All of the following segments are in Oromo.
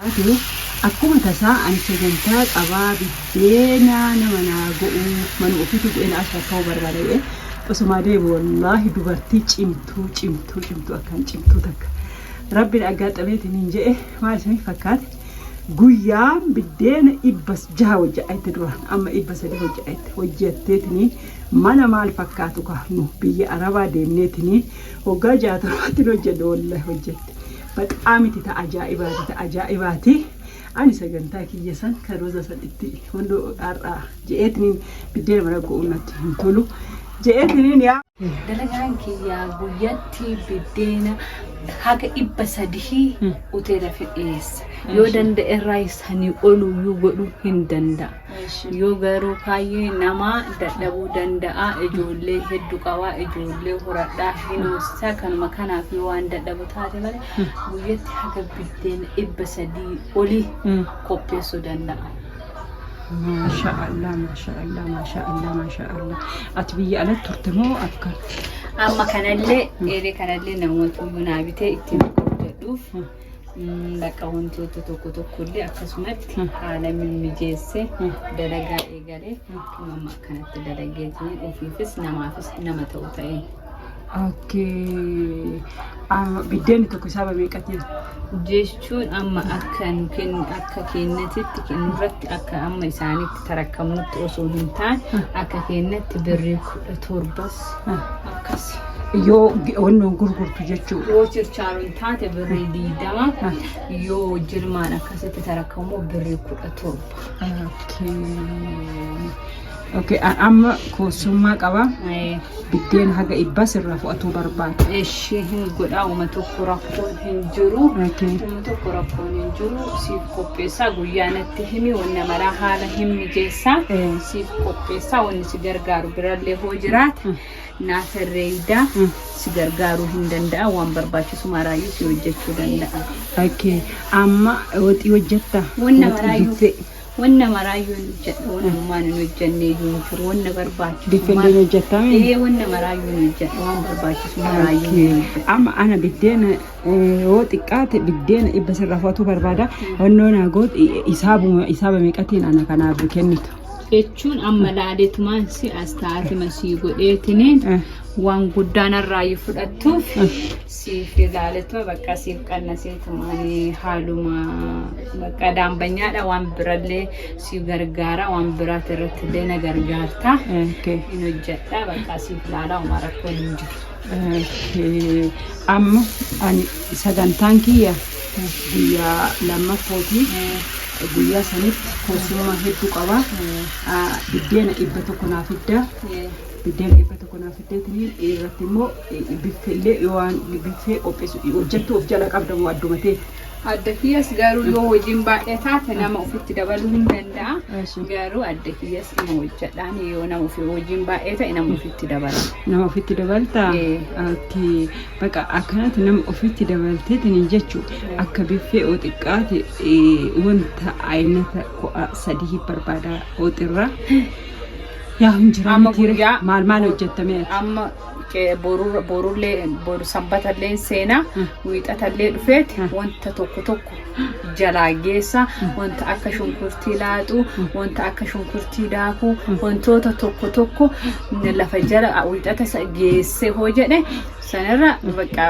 taate akkuma tasaa ani sagantaa qabaa biddeena nama naa go'uu manuma ofiituu bu'ee naa shaakka'uu barbaada jedhee osomaa deemu wallaahi dubartii cimtuu cimtuu cimtuu akkaan cimtuu takka rabbi na aggaatxameetiniin jedhe maal isiniif fakkaate guyyaan biddeena dhibba jaha hojja'atte duraan amma dhibba sadii hojja'atte hojjatteetiniin mana maal fakkaatu kaafnu biyya arabaa deemneetiniin hoggaa jaatamaatti hojjenne wallaahi hojjatte Baqaa miti ta ajaa'ibaati ta ajaa'ibaati ani sagantaa kiyya san kan roza san itti hunduu har'aa je'eetiniin biddeena mana go'uun natti hin tolu je'eetiniin yaa Dalagaan kiyyaa guyyatti biddeena haga dhibba sadihii hoteela fidheessa. Yoo danda'e irraa sanii olu iyyuu godhuu hin danda'a. Yoo garuu kaayyee namaa dadhabuu danda'a ijoollee heddu qabaa ijoollee horadhaa hin hoosisaa kanuma kanaaf yoo waan dadhabu taate malee guyyatti haga biddeena dhibba sadii oli qopheessuu danda'a. Maasha Allah, maasha Allah, maasha Allah, maasha Allah. Ati biyya alatti turte moo akka? Amma kanallee eeree kanallee namoota bunaa bitee ittiin hojjedhuuf mm, bakka wantoota tokko tokko illee akkasumatti haala mimmijeessee dalagaa eegalee uumama akkanatti dalageetiin ofiifis namaafis nama ta'u ta'e. Okkee. Biddeenni tokko isaa bameeqatiin. jechuun amma akka nu kennu akka kennatitti kennurratti akka amma isaanitti tarakkamnutti osoo hin taane akka kennatti birrii kudha torbas akkas yoo wannoon gurgurtu jechuudha. Yoo chirchaaroo hin taate birrii diidama yoo jirmaan akkasitti tarakka immoo birrii kudha Ok, amma koosummaa qaba. Biddeen haga ibbaa sirraa fudhatuu barbaada. Ishii hin godhaa, uma tokko rakkoon hin jiru. Uma tokko rakkoon hin jiru. qopheessaa guyyaa natti himi wanna maraa haala hin mijeessaa siif qopheessaa wanni si gargaaru birallee hoo jiraate naa tarreeydaa si gargaaruu hin danda'a waan barbaachisu maraayyuu si hojjechuu danda'a. Akkee amma waxii hojjetta. Wanna Waxii maraayyuu biffee. wanna maraayyuu hin hojjedha wanna ammaan hin hojjenne iyyuu hin jiru wanna barbaachisu Biffeen mara- hin hojjettaa miti? Ee wanna maraayyuu hin hojjedha waan barbaachisu maraayyuu hin Akkee hojjedha. amma ana biddeena yoo xiqqaate biddeena dhibba sirraa fudhachuu barbaada. Onnoo naa goot isaabuma isaaba meeqatiin ana kanaaf kennitu. jechuun amma laaletumaan si as taatuma sii godheetiniin Eh. waan guddaa narraayyuu fudhattuuf siif ilaaletuma bakka siif qannaseetumaan haaluma bakka daambanyaadha waan birallee si gargaara waan biraati irrattillee na gargaarta Eh, okay. hin hojjedha bakka siif ilaalaa homaa rakkoo hin jiru. Amma ani sagantaan kiyya guyyaa lammaffooti. Guyyaa sanitti koorsummaa hedduu qaba. Biddeena dhibba tokko naa fidda. Biddeena dhibba tokko naa fiddeetiniin irratti immoo biffeellee yoo waan biffee qopheessu hojjattu of jala qabda moo adduma teetti. Adda kiyyas garuu yoo hojiin baay'ee taate nama ofitti dabaluu hin danda'a. Eessu. Garuu adda kiyyas ima hojjedhaan yoo nama ofi hojiin baay'ee ta'e nama ofitti dabala. Nama ofitti dabaltaa? Ee. Akkii baqa akkanatti nama ofitti dabalteetini jechu akka biffee oo xiqqaate ee, wanta aynata ko'a sadii barbaada ooxirraa. Yaa hin jira Amma mitiire guyyaa- maal maal hojjettamee ati? Amma boru sanbatalleen seenaa wiixatallee dhufeeti wanta tokko tokko jalaa geessa wanta akka shunkurtii laaxuu wanta akka shunkurtii daakuu wantoota tokko tokko lafa jala wiixata sa- geesse hoo jedhe sanirra bakka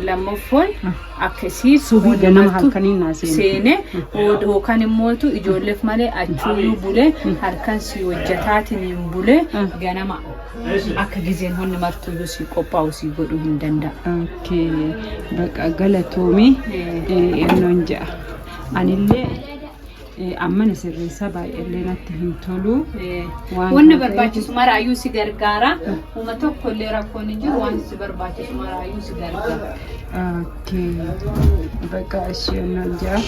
lammaffoon akka isii Subii waan ganama himattu halkaniin naa seenu. seenee yookaan immootu ijoolleef malee achuuyyuu bulee halkan si hojjetaatiin bulee ganama Akka gizeen honni martuyyuu sii qophaa'u sii godhuu hin danda'a. Okay. Baqa galatoomi ennoon ja'a. Anillee eh, ammana sirreessaa baay'eellee natti hin tolu. Waan Wanna kana barbaachisu maraayyuu si gargaara. Uma tokkollee rakkoon hin jiru waan si barbaachisu maraayyuu si gargaara. Okay. Bakka ishee nan jaa.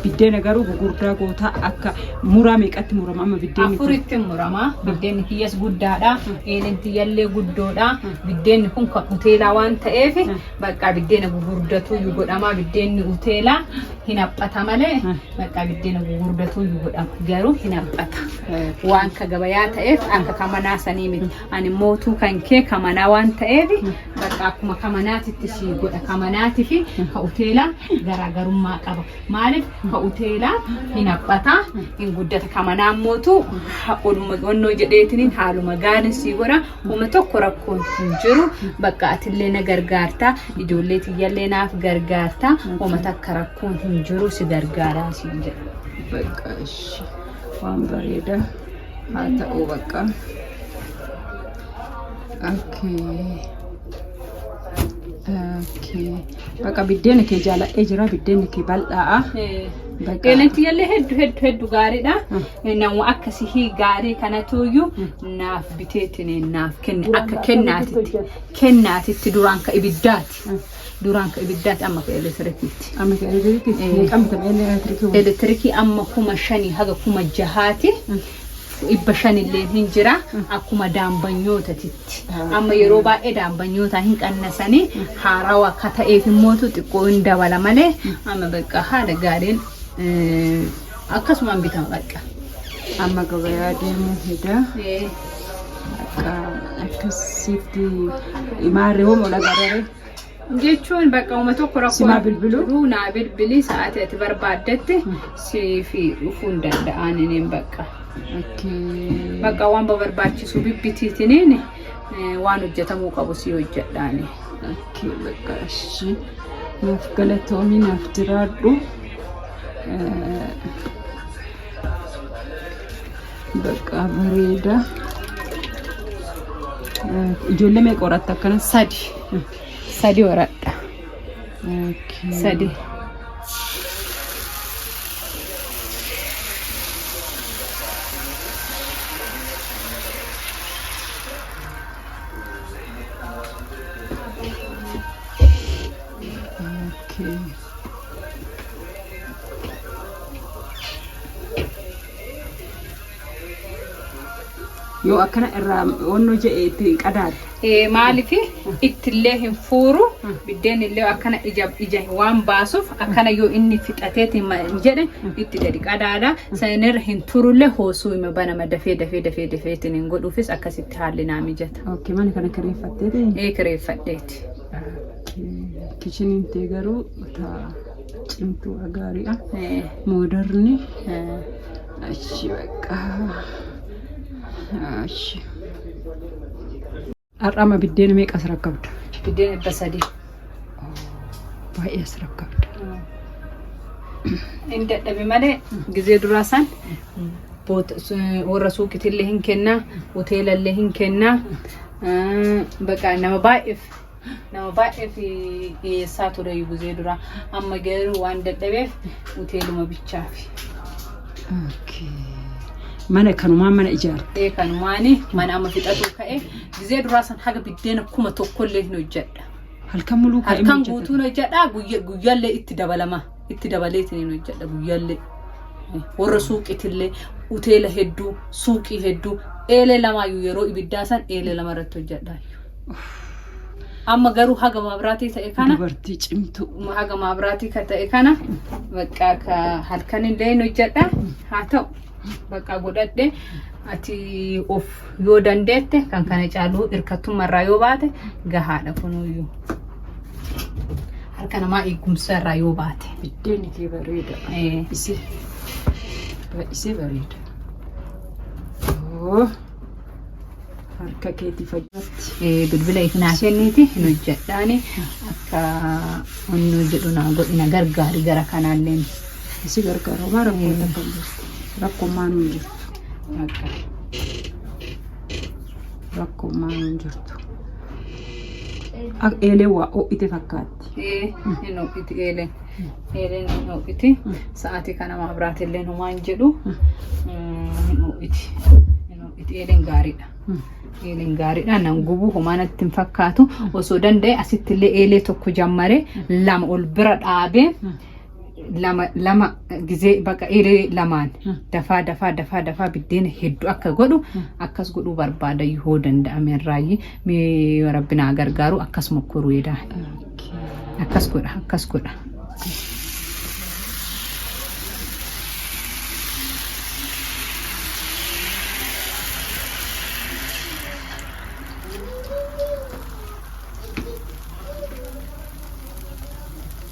Biddeena garuu gugurdaa goota akka muraa meeqatti murama amma biddeenni kun? Afuritti murama. Biddeenni kiyyas guddaadha. Eelin tiyyallee guddoodha. Biddeenni kun kan uteelaa waan ta'eef bakka biddeena gugurdatuu iyyuu godhama. Biddeenni uteelaa hin haphata malee bakka biddeena gugurdatuu iyyuu godhama. Garuu hin haphata. Waan ka gabayaa ta'eef akka ka manaa sanii miti. ani mootuu kan kee kamanaa waan ta'eef bakka akkuma kamanaatitti si godha kamanaatii fi ka uteelaa garaagarummaa qaba maaliif ka uteelaa hin haphata hin guddata kamanaan mootuu oluma onnoo jedheetiniin haaluma gaariin si godha homa tokko rakkoon hin jiru bakka atillee na gargaarta ijoollee tiyyallee naaf gargaarta homa takka rakkoon hin jiru si gargaaraa si jedha. Bakka ishee waan bareedaa. haa ta'uu bakka bakka biddeena kee jaaladhee jira biddeena kee bal'aa'a Deenetti illee heddu heddu heddu gaariidha. Nama akka sihii gaarii kanatuyyuu naaf biteetiin naaf kenne akka kennaatitti kennaatitti duraan ka ibiddaati. Duraan ka ibiddaati amma ka elektirikiiti. Amma ka elektirikiiti. Eh. Meeqaan bitama elektirikiin kun? Elektirikii amma kuma shanii haga kuma jahaati. Dhibba shanilleen hin jira akkuma daambanyootatitti. Amma yeroo baay'ee daambanyootaa hin qannasanii haarawa akka ta'eef immootu xiqqoo hin dabala malee amma bakka haala gaariin eh, Akkasumaan bitaa bakka. Amma gabayaa deemuu heda. Bakka akkasitti maarree hoo mola gadaree. Jechuun bakka uma tokko rakkoo Simaa bilbiluu? jiruu naa bilbilii sa'aatii ati barbaaddetti siif dhufuu hin danda'an ineen bakka. Akkee. Bakka waan barbaachisu bibbitiitiniin eh, waan hojjetamuu qabu si hojjedhaani. Akkee bakka ishii. Naaf galatoomi naaf jiraadhu. Bakka bareeda. Ijoollee meeqa horatta akkana? Sadi. Sadi horadha. Sadi. Okay. yoo akkana irraa wanno je'e itti qadaadde Eh, maaliif ittillee hin fuuru biddeen illee akkana ija ija waan baasuuf akkana yoo inni fixateeti ma- jedhe itti gadi qadaada sanirra hin turullee hoosuu hima banama dafee dafee dafee dafeetiin hin godhuufis akkasitti haalli naa mijata. okay mana kana kireeffatteeti Eh, kireeffadheeti. Kichiniin tee garuu ta cimtuu agaariidha. Moodarni achi bakka achi. Har'aama biddeena meeqa as rakkabda? Biddeena dhibba sadii. Baay'ee as rakkabda. Inni dadhabe malee gizee duraa san warra suuqitillee hin kenna hoteelallee hin kenna baqa nama baay'eef nama baay'eef dhiyeessaa ture guzee dura amma garuu waan dadhabeef hoteeluma bichaafi. Mana kanumaan mana ijaarte. Ee kanumaani mana amma fixatuu ka'e gizee duraa san haga biddeena kuma tokkollee hin hojjedha. Halkan muluu kaa'ee Halkan guutuun hojjedha guyyaallee itti dabalama. itti dabaleetiin hin hojjedha guyyallee. Warra suuqiitillee hoteela hedduu suuqii hedduu eelee lamaayyuu yeroo ibiddaa san eelee lama irratti hojjedha. Amma garuu haga maabiraatii ta'e kana Dubartii cimtuu. haga maabiraatii ka ta'e kana bakka ka halkan illee hin hojjedha haa ta'u bakka godhadhe ati of yoo dandeette kan kana caaluu hirkattummaa irraa yoo baate gahaadha kunuyyuu. Harka namaa eegumsa irraa yoo baate. Biddeenni kee bareeda. Eh. Isee baay'isee bareeda. Oo, Harka keetii fayyatti. Eh, bilbila ifinaa kenniiti hin hojjedhaani akka onnuu jedhu naa godhina gargaari gara kanaalleen Isi gargaara homaa rakkoo takka hin jirtu. Rakkoo maan hin jirtu. Bakka. Rakkoo maan hin jirtu. Ak- Eeleen waa ho'ite fakkaatti. Ee, hin ho'iti eeleen. Eeleen hin ho'iti. Sa'aatii kana maabiraati illee homaa hin jedhu. Mm, Hin ho'iti. Hin ho'iti. Eeleen gaariidha. Eeleen gaariidha. Nan gubu homaa natti hin fakkaatu. Osoo danda'e asitti illee eelee tokko jammaree lama ol bira dhaabee lama lama gizee baqa iree lamaan dafaa dafaa dafaa dafaa biddeena hedduu akka godhu akkas godhuu barbaada yoo danda'ame irraayyii mee rabbi naa gargaaru akkas mokkoruu edaa akkas godha akkas godha.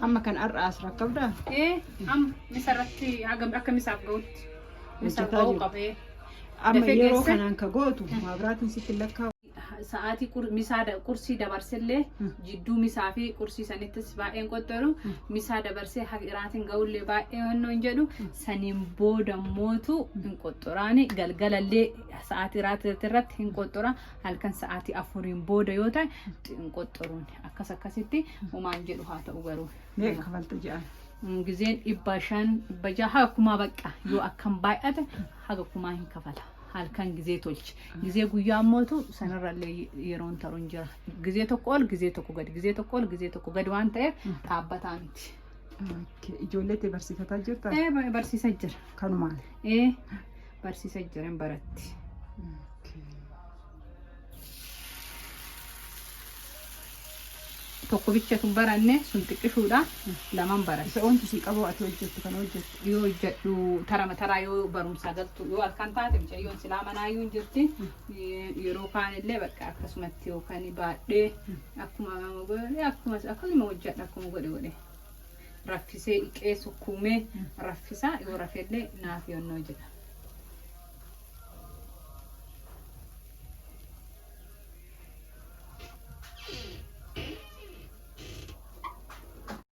Amma kan har'a as rakkabdaa? Ee, amma misa irratti hagam akka misaaf ga'utti. Misaaf Hojjetaa ga'uu jiru. qabee. Amma Dafee yeroo geesse. kanaan ka gootu maabiraatiin sitti hin lakkaa'u. Sa'aatii qur- misaa da- qursii dabarsillee Mm. jidduu misaa fi qursii sanittis baay'een qoxxaru. Mm. Misaa dabarsee haga iraatiin ga'ullee baay'ee hannoo hin jedhu. Saniin booda mootu hin qoxxuraani. Galgalallee sa'aatii iraatii irratti hin qoxxura. halkan sa'aatii afuriin booda yoo ta'e hin qoxxoruun akkas akkasitti homaan jedhu haa ta'u garuu Meeqa kafalta jedhan? Mm, gizeen dhibba shan dhibba jaha haga kumaa baqqa yoo akkan baay'ate haga kumaa hin kafala halkan gizee tolche gizee guyyaa ammootu sanarrallee yeroon taruun jira gizee tokko ol gizee tokko gad gizee tokko ol gizee tokko gad waan ta'eef dhaabbataa miti Ijoollee tee barsiifataa jirta? ee ba- barsiisa jira Kanumaan. ee barsiisa jiran baratti. Tokko bicha tun baranne sun xiqqishuudha laman baratti. Isa wanti sii qaboo ati hojjettu kana hojjettu. Yoo hojjedhu tarama taraa yoo barumsaa galtu yoo halkan taate mucayyoon silaa manaayyuu hin jirti. Yeroo kaan illee bakka akkasumatti yookaan baadhee akkuma akkuma akkuma hojjedha akkuma godhe godhe. raffisee dhiqee sukkuumee raffisaa yoo rafellee naaf yonnoo jedha.